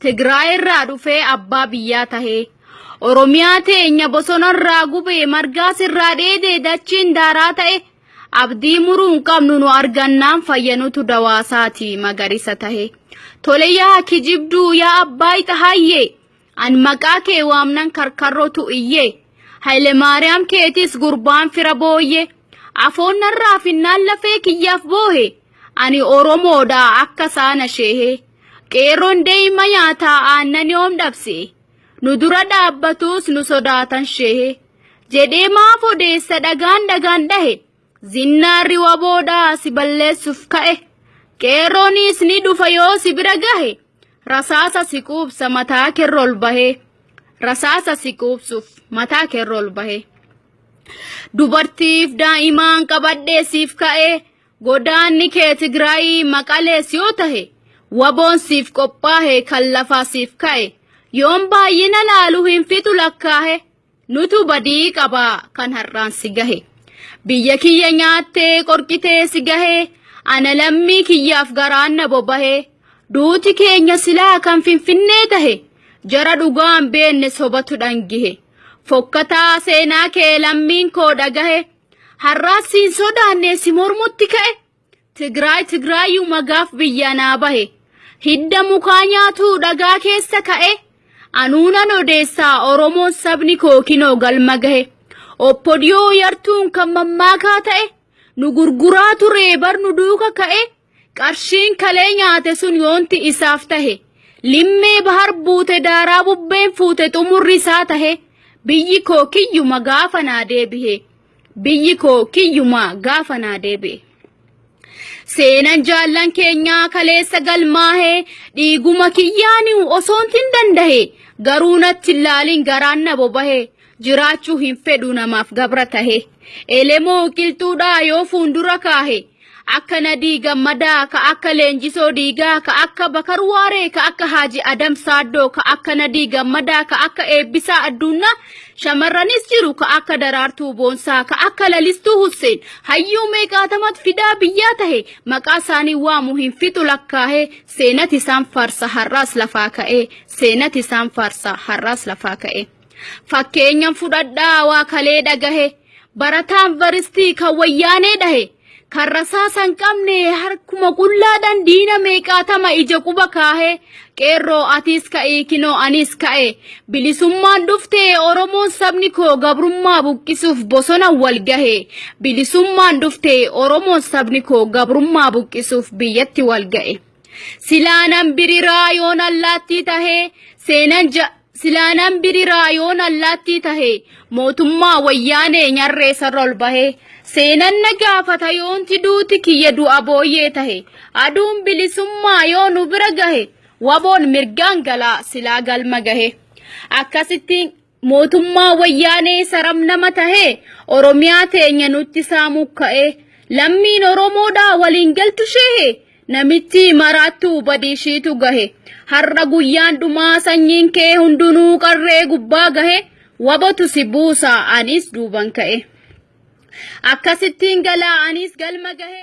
Tigraay irraa dhufee abbaa biyyaa tahee. Oromiyaa teenya bosonarraa gubee margaas irraa dheedee dachiin daaraa ta'e abdii muruu hin qabnu nu argannaan fayyanutu dawaasaati magariisa tahe. Tole yaa kijibduu yaa abbaa ixahaayyee an maqaa kee waamnan karkarrotu iyyee. Haile Maariyaam keetis gurbaan fira booyyee. Afoon narraa finnaan lafee kiyyaaf boohe. Ani Oromoodha akka saana sheehee. Qeerroon daa'ima nyaataa aannan yoom dhabse? Nu dura dhaabbatus nu sodaatan shehe. Jedhee maaf odeessa dhagaan dhagaan dhahe. Zinnaarri waboodhaa si balleessuuf ka'e. Qeerroonis ni dhufa yoo si bira gahe. Rasaasa si quubsa mataa kerra ol bahe. Rasaasa si quubsuuf mataa kerra ol bahe. Dubartiif daa'imaan qabadhee siif ka'e. Godaanni kee Tigraayii Maqalees yoo tahe waboon siif qophaahe kan lafaa siif ka'e yoon baay'ina laalu hin fixu lakkaahe nutu badii qaba kan har'aan si gahe biyya kiyya nyaattee qorqitee si gahe ana lammii kiyyaaf garaan na bobahe duuti keenya silaa kan finfinnee tahe jara dhugaan beenne sobatu dhangihe fokkataa seenaa kee lammiin koo dhagahe Har'aas siin sodaannee si mormutti ka'e. Tigraay Tigraayuu magaaf biyya naa bahe. Hidda mukaa nyaatuu dhagaa keessa ka'e. Anuunan odeessaa Oromoon sabni koo kinoo galma gahe. Oppodiyoo yartuun kan mammaakaa ta'e. Nu gurguraa turee bar nu duuka ka'e. Qarshiin kalee nyaate sun yoonti isaaf tahe, limmee bahar buute daaraa bubbeen fuute xumurri isaa tahe, biyyi koo kiyyuma gaafa naa deebihe. Biyyi koo kiyyuma gaafa naa deebihe. Seenan jaallan keenyaa kaleessa galmaahe dhiiguma kiyyaaniu osoontin dandahe garuu natti hin laalin garaan na bobahe jiraachuu hin fedhu namaaf gabra tahe elemoo qilxuudhaa yoo fuundura kaahe akka nadii gammadaa ka akka leenjisoo diigaa ka akka bakar waaree ka akka haaji adam saaddoo ka akka nadii gammadaa ka akka eebbisaa adduunnaa shamarranis jiru ka akka daraartuu boonsaa ka akka lalistuu husseen hayyuu meeqaatamat fidaa biyyaa tahe maqaa isaanii waamu hin fixu lakkaahee seenat isaan faarsa har'aas lafaa ka'ee seenat isaan faarsa har'aas lafaa ka'ee. Fakkeenyan fudhadhaa waa kalee dhagahe barataa yuunivarsiitii kan wayyaanee dhahe kan rasaasa hin qabne harkuma qullaadhaan diina meeqaatama ija quba kaahe qeerroo atiis ka'ii kinoo aniis ka'e bilisummaan dhufte oromoon sabni koo gabrummaa buqqisuuf bosona wal gahe bilisummaan dhufte oromoon sabni koo gabrummaa buqqisuuf biyyatti wal ga'e silaanan biriraa yoon allaattii tahee seenan ja Silaanan biriraa yoon allaattii tahe mootummaa wayyaanee nyarree sarra ol bahee seenan na gaafata yoonti duuti kiyya du'a booyyee tahe aduun bilisummaa yoo nu bira gahe waboon mirgaan galaa silaa galma gahe akkasitti mootummaa wayyaanee saram nama tahe oromiyaa teenya nutti saamuu ka'ee lammiin oromoodhaa waliin galtu sheehe Namittii maraattuu badii ishiitu gahe. Har'a guyyaan dhumaa sanyiin kee hundunuu qarree gubbaa gahe. Wabotu si buusa anis duuban ka'e. Akkasittiin galaa anis galma gahe.